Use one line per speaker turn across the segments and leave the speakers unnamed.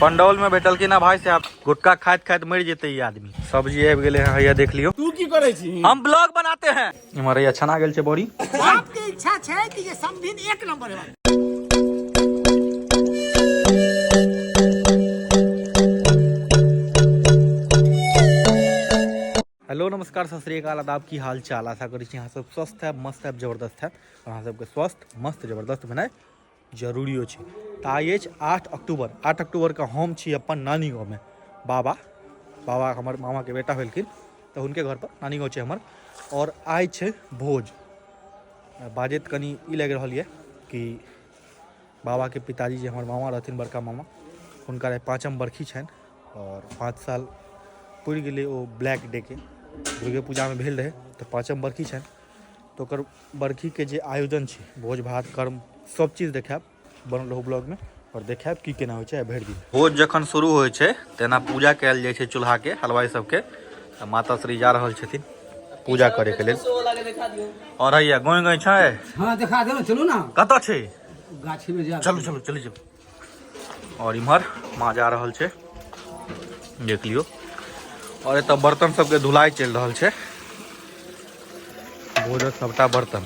पंडौल में बैठलखिन ना भाई साहब गुटखा खाइत खाइत मर जेते ई आदमी सब्जी आबि गेले हैं हैया देख लियो तू की करे छी हम ब्लॉग बनाते हैं इमहर हैया छना गेल छै बड़ी आपके इच्छा छै कि ये समधिन एक नंबर है हेलो नमस्कार सत श्रीकाल आदाब की हाल चाल आशा करी छी अहाँ सब स्वस्थ है मस्त है जबरदस्त है और अहाँ सबके स्वस्थ मस्त जबरदस्त भेनाइ जरूरियो छै तऽ आइ अछि आठ अक्टूबर आठ अक्टूबरके हम छी अपन नानी गाँवमे बाबा बाबा हमर मामाके बेटा भेलखिन तऽ हुनके घरपर नानी गाँव छै हमर आओर आइ छै भोज बाजैत कनि ई लागि रहल यऽ कि बाबाके पिताजी जे हमर मामा रहथिन बड़का मामा हुनकर आइ पाँचम बरखी छनि आओर पाँच साल पुरि गेलै ओ ब्लैक डेके दुर्गे पूजामे भेल रहै तऽ पाँचम बरखी छनि तऽ ओकर बरखीके जे आयोजन छै भोज भात कर्म सब चीज देखायब बनल रहू ब्लॉगमे आओर देखायब की केना होइ छै आ भरि दिन भोज जखन शुरू होइ छै तेना पूजा कयल जाइ छै चूल्हाके हलवाई सबके तऽ माता श्री जा रहल छथिन पूजा करैके लेल और हैया गोई गोई छै हाँ देखा दे ना चलू ना कतऽ छै गाछी में जा चलू चलू चलू चलू और इमहर माँ जा रहल छे देख लियो और एत बर्तन सबके धुलाई चल रहा है भोजन सबटा बर्तन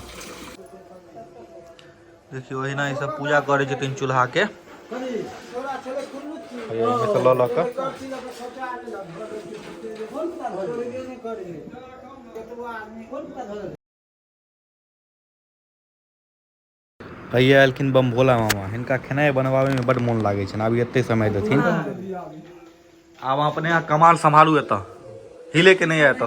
देखियो अहिना ई सब पूजा करे छथिन चूल्हा के ल हैया एलखिन बम भोला मामा हिनका खेनाइ बनबाबैमे बड्ड मोन लागै छनि आब एते समय देथिन आब अपने अहाँ कमाल सम्हारू एतऽ हिले के नहि एतऽ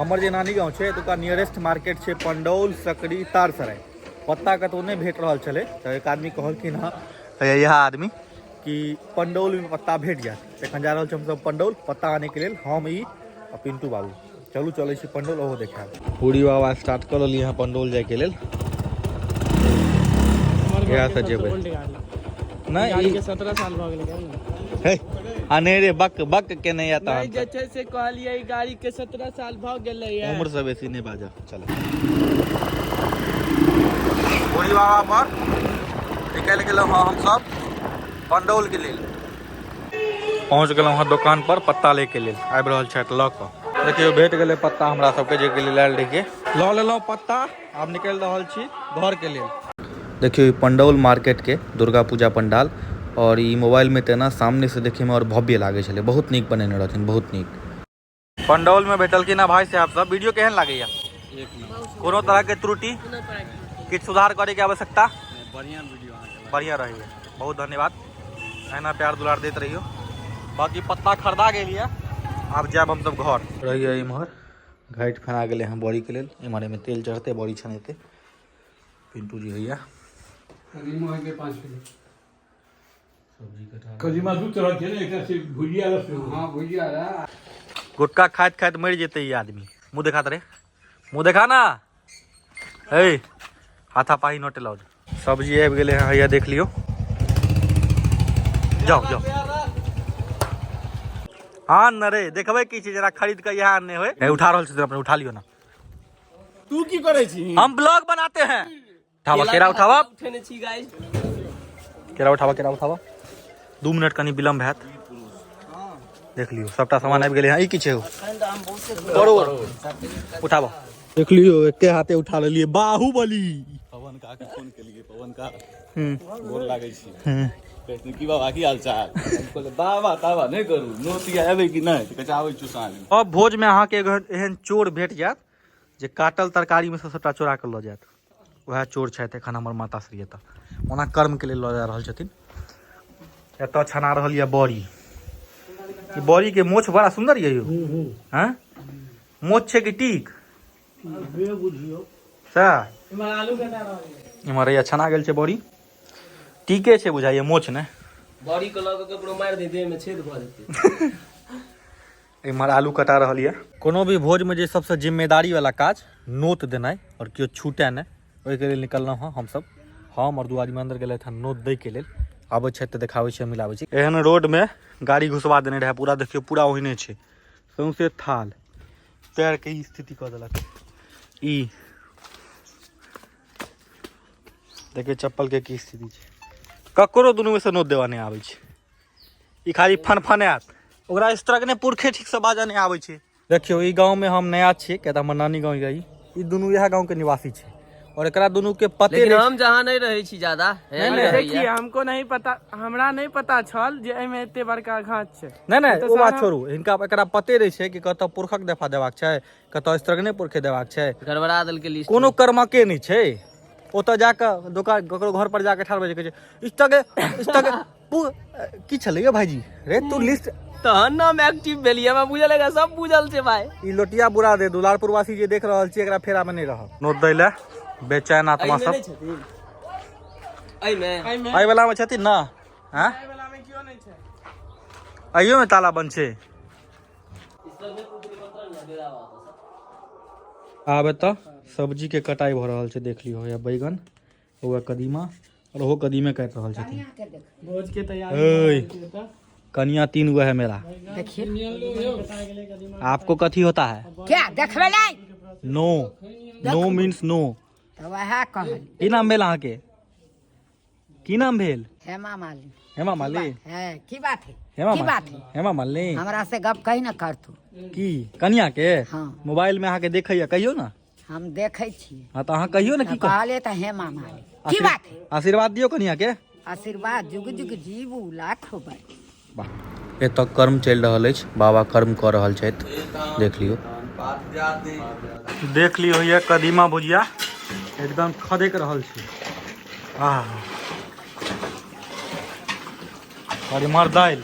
हमर जे नानी गाँव छै एतुका नियरेस्ट मार्केट छै पंडौल सकरी तारसराय पत्ता कतौ नहि भेट रहल छलै तऽ एक आदमी कहलखिन हँ हैया इएह आदमी कि पंडौलमे पत्ता भेट जायत एखन जा रहल छी हमसभ पंडौल पत्ता आनैके लेल हम ई आ पिंटू बाबू चलू चले छी पंडोल ओहो देखा पूरी बाबा स्टार्ट कर ली यहाँ पंडोल जाए के लिए यहाँ से जेबे नहीं के 17 साल भ गेल हे अने रे बक बक के नहीं आता नहीं जैसे से कहलिए गाड़ी के 17 साल भ गेल है उम्र से बेसी नहीं बाजा चलो पूरी बाबा पर निकल गेल हम सब पंडोल के लिए पहुँच गेलहुँ हँ दोकान पर पत्ता ले के लेल आबि रहल छथि लऽ कऽ देखियौ भेट गेलै पत्ता हमरा सबके जे के लेल आयल रहियै लऽ लेलहुँ पत्ता आब निकलि रहल छी घर के लेल देखियौ ई पंडौल मार्केट के दुर्गा पूजा पंडाल और ई मोबाइल में तेना सामने से देखे में और भव्य लागे छले बहुत नीक बनेने रहथिन बहुत नीक पंडौल में भेटलखिन हँ भाई साहब सब वीडियो केहन लागैया कोनो तरह के त्रुटि किछु सुधार करे के आवश्यकता बढ़िया वीडियो बढ़िया रही बहुत धन्यवाद एना प्यार दुलार देते रहियो बाकी पत्ता खरीदा गई है आब जाब हम सब घर रहिए इम्हर घाटि फना गए हैं बड़ी के लिए इम्हर में तेल चढ़ते बड़ी छनेते पिंटू जी भैया कदीमा दू तरह के ने एकटा से भुजिया रस हाँ भुजिया रहा गुटखा खाइत खाइत मरि जेतै ई आदमी मुँह देखा रे मुँह देखा ना हे हाथा पाही नोट लाउड सब्जी आबि गेलै हँ हैया देख लियौ जाउ जाउ आन न रे देखबै की छै जरा खरीद कऽ इएह आनने होय हे, उठा रहल छी अपने उठा लियौ ना तू की करे छी हम ब्लॉग बनाते हैं ठावा केरा उठावा उठेने छी गाइस केरा उठावा केरा उठावा दू मिनट कनी विलम्ब हैत देख लियो सबटा सामान आबि गेलै हँ ई की छै परोर उठावा देख लियो एके हाथे उठा लेलिए बाहुबली पवन का के फोन केलिए पवन का गोर लागै छी कहै की बाबा की हाल चाल कहले बाबा ताबा नहि करू नोतिया एबै कि नहि कहै आबै छु साँझ अब भोज में अहाँ के एहन चोर भेट जायत जे काटल तरकारी में से सबटा चोरा के लऽ जायत वएह चोर छथि एखन हमर माता श्री एतऽ ओना कर्मके लेल लऽ जा रहल छथिन एतऽ छना रहल यऽ बड़ी ई बड़ीके मोछ बड़ा सुन्दर यऽ यौ हँ मोछ छै कि टीक सएह इम्हर हैया छना गेल छै बड़ी टीके छै बुझाइए मोछ ने बड़ी के लऽ के ककरो मारि दे देह में छेद भऽ जेतै इम्हर आलू कटा रहल यऽ कोनो भी भोजमे जे सबसँ जिम्मेदारीवला काज नोत देनाइ आओर केओ छूटै नहि ओहिके लेल निकललहुँ हँ हमसब हम आओर दू आदमी अन्दर गेलथि हँ नोत दैके लेल आबै छथि तऽ देखाबै छी मिलाबै छी एहन रोडमे गाड़ी घुसबा देने रहै पूरा देखियौ पूरा ओहिने छै सौंसे थाल पैरके ई स्थिति कऽ देलक ई देखियौ चप्पलके की स्थिति छै ककरो दुनूमे सँ नोत देबा नहि आबै छै ई खाली फनफनायत ओकरा इस तरह के ने पुरखे ठीक से बाजा नहीं आवे छे देखियो ई गांव में हम नया छे के हमर नानी गांव गई ई दोनों यह गांव के निवासी छे और एकरा दोनों के पते लेकिन हम जहां नहीं रहे छी ज्यादा नहीं, नहीं, देखिए हमको नहीं पता हमरा नहीं पता छल जे एमे एते बड़का घाट छे नहीं नहीं तो वो बात छोड़ू इनका एकरा पते रहे छे कि कत पुरखक दफा देवाक छे कतऽ स्त्रगने पुरखे देबाक छै गड़बड़ा देलकै लिस्ट कोनो कर्मके नहि छै ओतऽ जाकऽ दोकान ककरो घर पर जाकऽ ठाढ़ भऽ जाय कहै छै स्त्रगे स्त्रगे पु- अ, की छलै यौ भाईजी रे तू लिस्ट तहन नाम एक्टिव भेलियै हमरा बुझल है सब बुझल छै भाई ई लोटिया बुरा दे दुलारपुर वासी जे देख रहल छी एकरा फेरा में नहीं रह नोट दै ले बेचैन आत्मा सब एहिमे एहि वाला में छथिन ना हैं एहियो में ताला बंद छै आब एतऽ सब्जीके कटाइ भऽ रहल छै देख लियौ या बैगन ओएह कदीमा आओर ओहो कदीमे काटि रहल छथिन भोजके तैयारी ओए कनिया तीन गो है मेरा आपको कथी होता है क्या देखबै नै नो नो मीन्स नो तऽ वएह कहल की नाम भेल अहाँके की नाम भेल हेमा मालिन हेमा मालिन है की बात है हेमा की बात है हेमा मालिन हमरा से गप कही ना कर तू की कनिया के हाँ। मोबाइल में आके देखैया कहियो ना हम देखे छी हां तो अहाँ कहियो ना की कह कहले त हेमा मालिन की बात है आशीर्वाद दियो कनिया के आशीर्वाद जुग जुग जीवू लाखो बार एतय कर्म चलि रहल अछि बाबा कर्म कऽ रहल छथि देख लियौ देख लियौ होइए कदीमा भुजिया एकदम खदकि रहल छै आह और इमहर दालि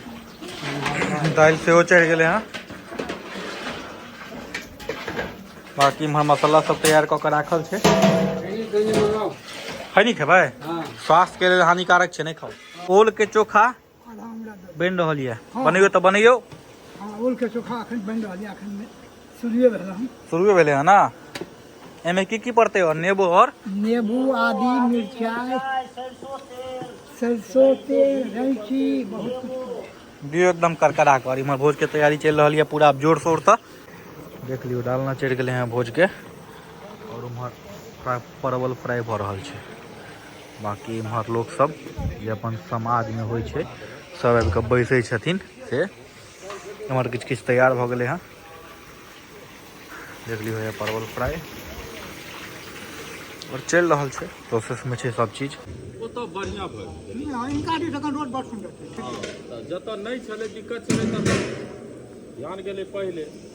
दालि सेहो चढ़ि गेलै हँ बाकी इमहर मसाला सब तैयार कऽ के राखल छै खैनी खेबै स्वास्थ्यके लेल हानिकारक छै नहि खाउ ओलके चोखा बनि रहल यऽ हाँ। बनैयो तऽ बनैयो ओलके हाँ, चोखा अखन बनि रहल यऽ अखन शुरुए भेल हन शुरुए भेलै हन ना एहिमे की की पड़तै और नेबो और नेबो आदि मिरचाई सरसों तेल रैची बहुत कुछ दियो एकदम करकरा कर इम्हर भोज के तैयारी चल रही है पूरा जोर शोर से देख लियो डालना चढ़ गए हैं भोज के और उम्हर परवल फ्राई भ रहा है बाँकी इम्हर लोकसभ जे अपन समाजमे होइ छै सभ आबि कऽ बैसै छथिन से एम्हर किछु किछु तैयार भऽ गेलै हँ देख लियौ होइए परवल फ्राइ आओर चलि रहल छै प्रोसेसमे छै सभ चीज ओतऽ बढ़िआँ भऽ हिनका दिस एखन रोड बड़ सुन्दर छै जतऽ नहि छलै दिक्कत छलै ततऽ ध्यान गेलै पहिले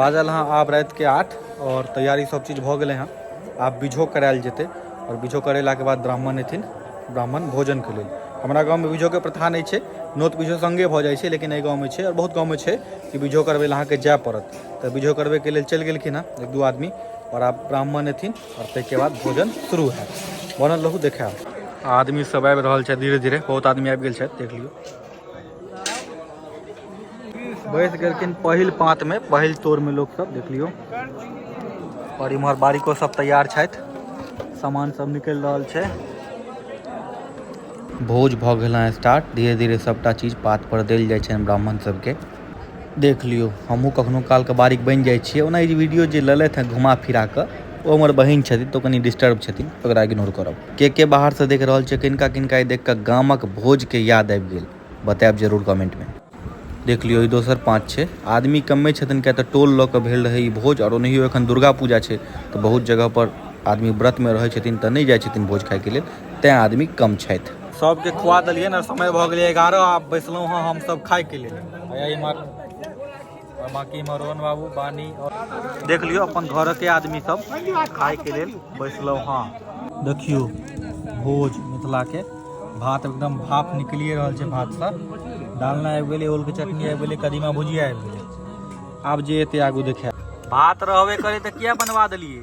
बाजल हँ आब रात के आठ और तैयारी सब चीज भऽ गेलै हँ आब बीझो करायल जेतै और बीझो करेला के बाद ब्राह्मण एथिन ब्राह्मण भोजन के लेल हमरा गाँव में बीझो के प्रथा नहीं छै नोत बीझो संगे भऽ जाइ छै लेकिन एहि गाँव में छै और बहुत गाँव में छै कि बीझो करबै लए अहाँके जाय पड़त तऽ बीझो करबै के लेल चलि गेलखिन हँ एक दू आदमी और आब ब्राह्मण एथिन आओर ताहिके बाद भोजन शुरू हैत बनल रहू देखायब आदमी सब आबि रहल छै धीरे धीरे बहुत आदमी आबि गेल छथि देख लियौ बैस गेलखिन पहिल पाँत में पहिल तोर में लोग सब देख लियो और इम्हर बारिको सब तैयार छथि सामान सब निकलि रहल छै भोज भऽ गेल हँ स्टार्ट धीरे धीरे सबटा चीज पात पर देल जाइ छनि ब्राह्मण सबके देख लियौ हमहूँ कखनो कालके बारीक बनि जाइ छियै ओना ई वीडियो जे लेलथि हँ घुमा फिरा कऽ ओ हमर बहिन छथिन तऽ ओ कनी डिस्टर्ब छथिन ओकरा इग्नोर करब के के बाहरसँ देख रहल छै किनका किनका ई देख कऽ गामक भोजके याद आबि गेल बतायब जरूर कमेंटमे देख लियौ ई दोसर पाँच छै आदमी कमे छथिन किया तऽ टोल लऽ कऽ भेल रहै ई भोज आओर ओनाहियो एखन दुर्गा पूजा छै तऽ बहुत जगहपर आदमी व्रतमे रहै छथिन तऽ नहि जाइ छथिन भोज खायके लेल तैं आदमी कम छथि सबके खुआ देलियै ने समय भऽ गेलै एगारह आब बैसलहुँ हँ हमसब खायके लेल इमहर बाकी इमहर रोहन बाबू बानी आओर देख लियौ अपन घरके आदमी सब खायके लेल बैसलहुँ हँ देखियौ भोज मिथिलाके भात एकदम भाप निकलिए रहल छै भातसँ डालना आबि गेलै ओलके चटनी आबि गेलै कदीमा भुजिया आबि गेलै आब जे एते आगू देखाय भात रहबे करे तऽ किया बनवा देलियै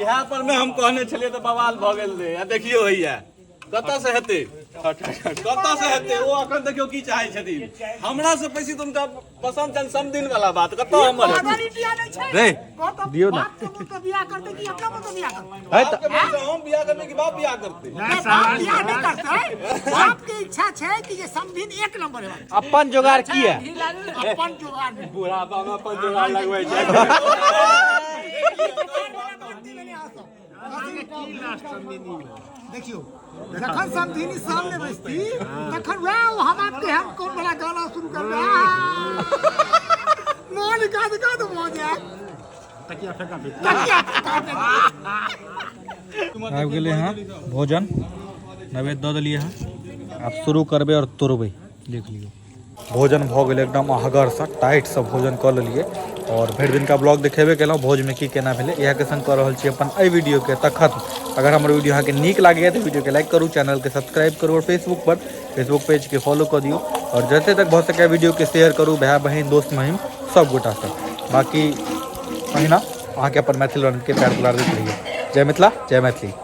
इएह पर मे हम कहने छलियै तऽ बवाल भऽ गेल रहै आ देखियौ होइया कतऽ से हेतै कतऽ से हेतै ओ अखन देखियौ की चाहै छथिन हमरा से बेसी तऽ हुनका पसन्द छनि समदिन वाला बात कतऽ हमर हेतै रे दियौ ने है तऽ बाप के बेटा हम बियाह करबै कि बाप बियाह करतै इच्छा छै कि जे समधिन एक नंबर है अपन जोगाड़ की है अपन जोगाड़ में बुढ़ापा में अपन जोगाड़ लगबै छै देखियो जखन समधिनी सामने बैसती तखन वएह हमार के हम कोन बड़ा गाना शुरू करबै मोनिका दुका तो मौज है आबि गेलै हँ भोजन नैवेद्य दऽ देलियै हँ आब शुरू करबै आओर तोड़बै देख लियौ भोजन भऽ गेलै एकदम अहगरसँ टाइटसँ भोजन कऽ लेलियै आओर भरि दिनका ब्लॉग देखेबे केलहुँ भोजमे की केना भेलै इएहके संग कऽ रहल छी अपन एहि वीडियोके तऽ खत्म अगर हमर वीडियो अहाँके नीक लागैए तऽ वीडियोके लाइक करू चैनलके सब्सक्राइब करू आओर फेसबुकपर फेसबुक पेजके फॉलो कऽ दियौ आओर जते तक भऽ सकैए वीडियोके शेयर करू भाय बहिन दोस्त महिम सब गोटासँ बाकी अहिना अहाँके अपन मैथिल रनके प्यार दुलार दैत रहियै जय मिथिला जय मैथिली